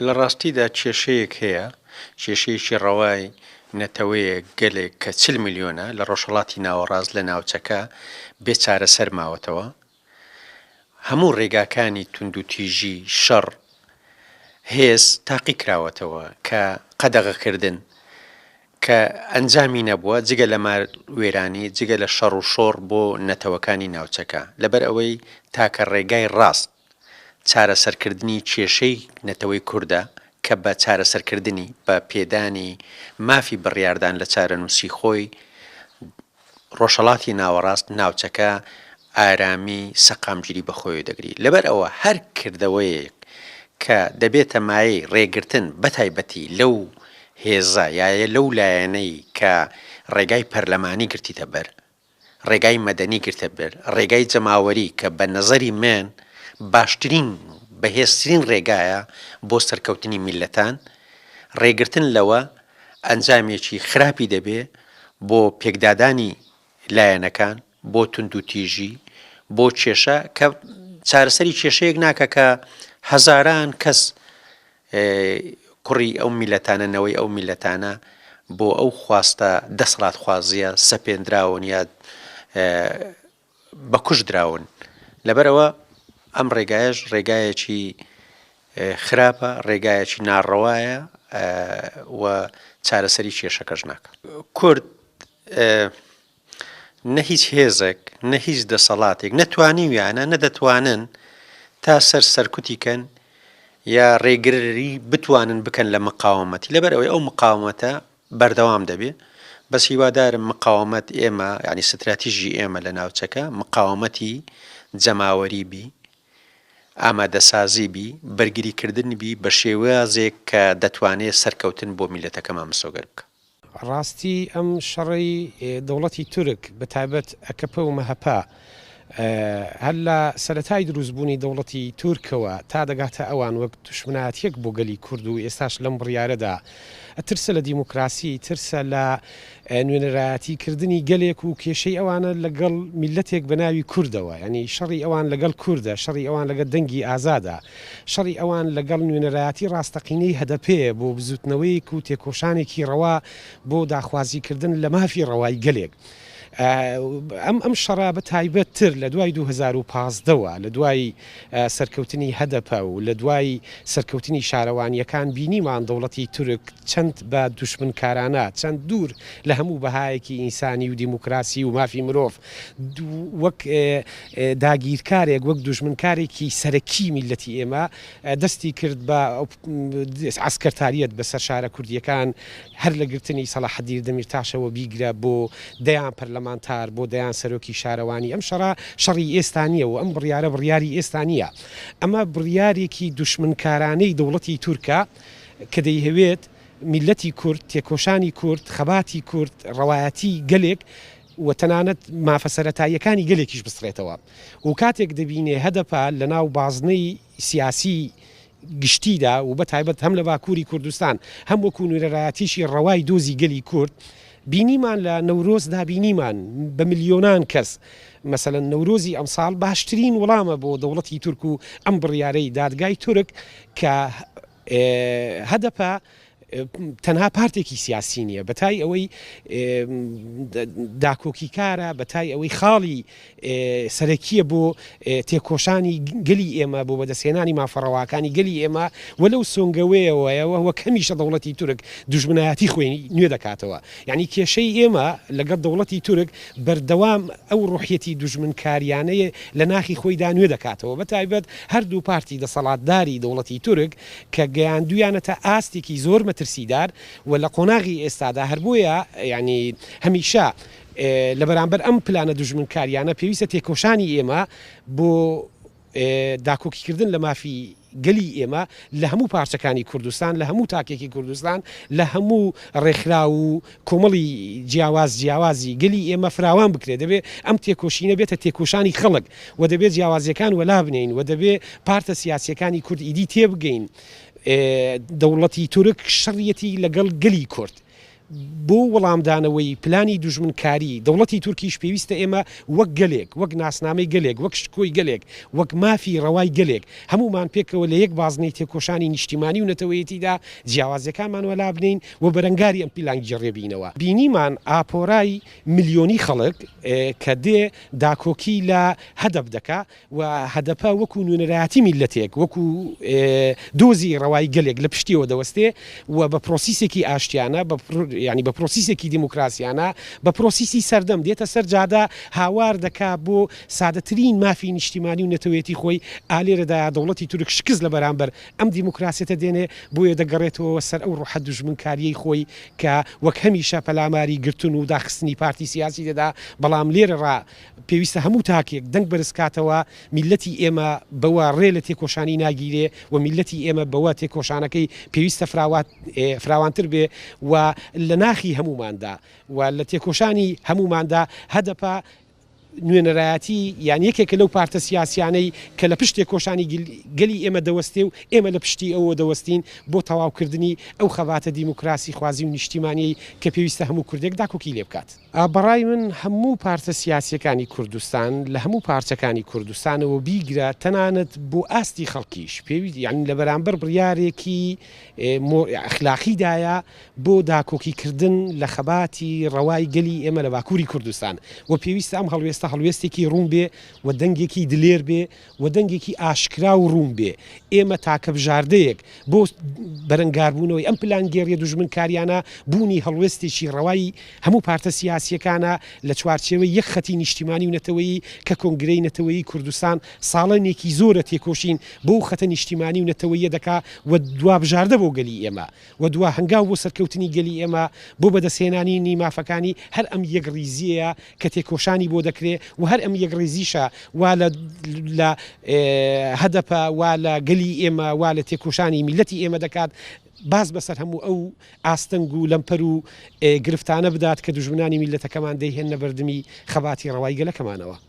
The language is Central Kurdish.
لە ڕاستیدا کێشەیەک هەیە، کێشەیەکی ڕەوای نەتەوەیەک، گەلێک کە چل ملیۆنە لە ڕۆژهەڵاتی ناوەڕاست لە ناوچەکە بێ چارەسەر ماوەتەوە. هەموو ڕێگاکانی توندوتیژی، شەڕ، هێز تاقی کراوەتەوە کە قەدەغەکردن، کە ئەنجامی نەبووە جگە لە مار وێرانی، جگە لە شەڕ و شۆڕ بۆ نەتەوەکانی ناوچەکە. لەبەر ئەوەی تاکە ڕێگای ڕاست. چارەسەرکردنی کێشەی نەتەوەی کوردە کە بە چارەسەرکردنی، بە پێدانی مافی بڕیاردان لە چارەنووسی خۆی، ڕۆژهەڵاتی ناوەڕاست ناوچەکە ئارامی سەقامگیری بەخۆی دەگری. لەبەر ئەوە هەر کردەوەیەک کە دەبێتە مایەی ڕێگرتن بە تایبەتی لەو هێزە یا لەو لایەنەی کە ڕێگای پەرلەمانی گرتیتە بەر، ڕێگای مەدەنی گرتە بەر ڕێگای جەماوەری کە بە نەزەری من باشترین و بەهێزترین ڕێگایە بۆ سەرکەوتنی میللەتان، ڕێگرتن لەوە ئەنجامێکی خراپی دەبێ بۆ پێکدادانی لایەنەکان، بۆ توندوتیژی، بۆ کێشە کە چارەسەری کێشەیەک ناکا کە هەزاران کەس ئێ کوڕی ئەو میلەتانە نەوەی ئەو میلەتانە بۆ ئەو خواستە دەسڵات خوازیە سەپێندراون یا بە کوش دراون لەبەرەوە ئەم ڕێگایش ڕێگایەکی خراپە ڕێگایەکی ناڕەوایە و چارەسەری کێشەکەش ناکە کورد نە هیچ هێزێک، نە هیچ دەسەڵاتێک نە توانیویانە، نە دەتوانن تا سەر سەرکوتی کەن یا ڕێگری بتوانن بکەن لە مقاومەتی، لەبەر ئەوەی ئەو مقاومەتە بەردەوام دەبێ، بەس هیوادارم مقاومەت ئێمە یانی ستراتیژی ئێمە لە ناوچەکە مقاومەتی جەماوەری بی، ئامادەسازی بی، بەرگری کردن بی بە شێوازێک کە دەتوانێ سەرکەوتن بۆ میللەتەکەمان مسۆگەر بکا. ڕاستی ئەم شەڕەی دەوڵەتی تورک بە تایبەت ئەکەپە و مەهەپە هەر لە سەرەتای دروستبوونی دەوڵەتی تورکەوە تا دەگاتە ئەوان وەک دوشمنایەتیەک بۆ گەلی کورد و ئێستاش لەم بڕیارەدا ترسە لە دیموکراسی ترسە لە نوێنەرایەتی کردنی گەلێک و کێشەی ئەوانە لەگەڵ میلەتێک بە ناوی کوردەوە ینی شەڕی ئەوان لەگەڵ کوردە شەڕی ئەوان لەگە دەنگی ئازادە شەڕی ئەوان لەگەڵ نوێنەرایەتی ڕاستەقینەی هەدەپەیە بۆ بزووتنەوەیەک و تێکۆشانێکی ڕەوا بۆ داخوازیکردن لە مافی ڕەوای گەلێک. ئەم ئەم شەڕە بە تایبەت تر لە دوای 2015 وە لە دوای سەرکەوتنی هەدەپە و لە دوای سەرکەوتنی شارەوانیەکان بینیمان دەوڵەتی تورک چەند بە دوشمنکارانە چەند دوور لە هەموو بەهایەکی ئینسانی و دیموکراسی و مافی مرۆڤ وەک داگیرکارێک، وەک دوژمنکارێکی سەرەکی میللەتی ئێمە دەستی کرد بە عەسکەرتاریەت بەسەر شارە کوردیەکان، هەر لە گرتنی سەڵاحەدیر دەمیرتاشەوە بیگرە بۆ دەیان پەرلەمانتار، بۆ دەیان سەرۆکی شارەوانی، ئەم شەڕە شەڕی ئێستا نیە و ئەم بڕیارە بڕیاری ئێستا نیە، ئەمە بڕیارێکی دوشمنکارانەی دەوڵەتی تورکە کە دەیهەوێت میللەتی کورد، تێکۆشانی کورد، خەباتی کورد، ڕەوایەتی گەلێک، و تەنانەت مافە سەرەتاییەکانی گەلێکیش بسڕێتەوە و کاتێک دەبینێ هەدەپە لەناو بازنەی سیاسیی گشتیدا و بەتایبەت هەم لە باکووری کوردستان هەم وەکوو نوێنەرایەتیی ڕەوای دۆزی گەلی کورد بینیمان لە نەورۆزدا بینیمان بە ملیۆنان کەس مەسەلەن نەورۆزی ئەمساڵ باشترین وڵامە بۆ دەوڵەتی تورک و ئەم بڕیارەی دادگای تورک کە هەدەپە تەنها پارتێکی سیاسی نییە بە تای ئەوەی داکۆکیکارە بە تای ئەوەی خاڵی سەرەکیە بۆ تێکۆشانی گەلی ئێمە بۆ بەدەستێنانی مافەڕەواکانی گەلی ئێمە وە لەو سۆنگەوەیەوەیەوە وە کەمیشە دەوڵەتی تورک دوژمنایەتی خوێنی نوێ دەکاتەوە یانی کێشەی ئێمە لەگەڵ دەوڵەتی تورک بەردەوام ئەو ڕۆحیەتی دوژمنکاریانەیە لە ناخی خۆیدا نوێ دەکاتەوە بە تایبەت هەردوو پارتی دەسەڵاتداری دەوڵەتی تورک کە گەیاندویانەتە ئاستێکی زۆر مەترسیدار و لە قۆناغی ئێستادا هەر بۆیە یانی هەمیشە لە بەرامبەر ئەم پلانە دوژمنکاریانە پێویستە تێکۆشانی ئێمە بۆ داکۆکیکردن لە مافی گەلی ئێمە لە هەموو پارچەکانی کوردستان، لە هەموو تاکێکی کوردستان، لە هەموو ڕێکخراو و کۆمەڵی جیاواز جیاوازی گەلی ئێمە فراوان بکرێت، دەبێ ئەم تێکۆشینە بێتە تێکۆشانی خەڵک و دەبێ جیاوازیەکان وەلابنێین و دەبێ پارتە سیاسیەکانی کورد ئیدی تێبگەین دەوڵەتی تورک شەڕیەتی لەگەڵ گەلی کورد، بۆ وڵامدانەوەی پلانی دوژمنکاری دەوڵەتی تورکیش پێویستە ئێمە وەک گەلێک، وەک ناسنامەی گەلێک، وەک شکۆی گەلێک، وەک مافی ڕەوای گەلێک، هەموومان پێکەوە لە یەک بازنەی تێکۆشانی نیشتیمانی و نەتەوەیەتیدا جیاوازیەکانمان وەلا بنێین و بەرەنگاری ئەم پیلانگیڕیە بینەوە. بینیمان ئاپۆرای ملیۆنی خەڵک کە دێ داکۆکی لە هەدەپ دەکا، و هەدەپە وەکو نوێنەرایەتی میللەتێک، وەکو دۆزی ڕەوای گەلێک لە پشتیەوە دەوەستێ و بە پرۆسیسێکی ئاشتیانە، بە یانی بە پرۆسیسێکی دیموکراسیانە، بە پرۆسیسی سەردەم دێتە سەر جادە، هاوار دەکا بۆ سادەترین مافی نیشتیمانی و نەتەوەیەتی خۆی، ئا لێرەدایە دەوڵەتی تورک شکست لە بەرامبەر ئەم دیموکراسیەتە دێنێ، بۆیە دەگەڕێتەوە سەر ئەو ڕۆحە دوژمنکاریەی خۆی کە وەک هەمیشە پەلاماری گرتن و داخستنی پارتی سیاسی دەدا، بەڵام لێرە ڕا. پێویستە هەموو تاکێک دەنگ بەرزکاتەوە، میللەتی ئێمە بەوە ڕێ لە تێکۆشانی ناگیرێ و میللەتی ئێمە بەوە تێکۆشانەکەی پێویستە فراوانتر بێ و لە ناخی هەمووماندا و لە تێکۆشانی هەمووماندا هەدەپە نوێنەرایەتی یان یەکێکە لەو پارتە سیاسیانەی کە لە پشت تێکۆشانی گەلی ئێمە دەوەستێ و ئێمە لە پشتی ئەوە دەوەستین بۆ تەواوکردنی ئەو خەباتە دیموکراسی خوازی و نیشتیمانیەی کە پێویستە هەموو کوردێک داکۆکی لێ بکات. بەڕای من هەموو پارتە سیاسیەکانی کوردستان لە هەموو پارچەکانی کوردستانەوە بیگرە تەنانەت بۆ ئاستی خەڵکیش پێویست یانی لە بەرامبەر بڕیارێکی مۆ ئەخلاقی دایە بۆ داکۆکی کردن لە خەباتی ڕەوای گەلی ئێمە لە باکوری کوردستان و پێویستە ئەم هەڵوێستە هەڵوێستێکی ڕوون بێ و دەنگێکی دلێر بێ و دەنگێکی ئاشکرا و ڕوون بێ، ئێمە تاکە بژاردەیەک بۆ بەرەنگاربوونەوەی ئەم پلانگێڕییە دوژمنکارییانە، بوونی هەڵوێستێکی ڕەوای هەموو پارتە سیاسییەکانە لە چوارچێوەی یەک خەتی نیشتیمانی و نەتەوەیی کە کۆنگرەی نەتەوەیی کوردستان ساڵەنێکی زۆرە تێکۆشین بۆ ئەو خەتە نیشتیمانی و نەتەوەییە دەکا و دوا بژاردە بۆ گەلی ئێمە و دوا هەنگاو بۆ سەرکەوتنی گەلی ئێمە بۆ بەدەستهێنانینی مافەکانی هەر ئەم یەکڕیزیەیە کە تێکۆشانی بۆ دەکرێ و هەر ئەم یەکڕیزیشە وا لە لە هەدەپە وا لە گەلی ئێمە وا لە تێکۆشانی میللەتی ئێمە دەکات باز بەسەر هەموو ئەو ئاستەنگ و لەمپەر و گرفتانە بدات کە دوژمنانی میللەتەکەمان دەیهێننە بەردمی خەباتی ڕەوای گەلەکەمانەوە.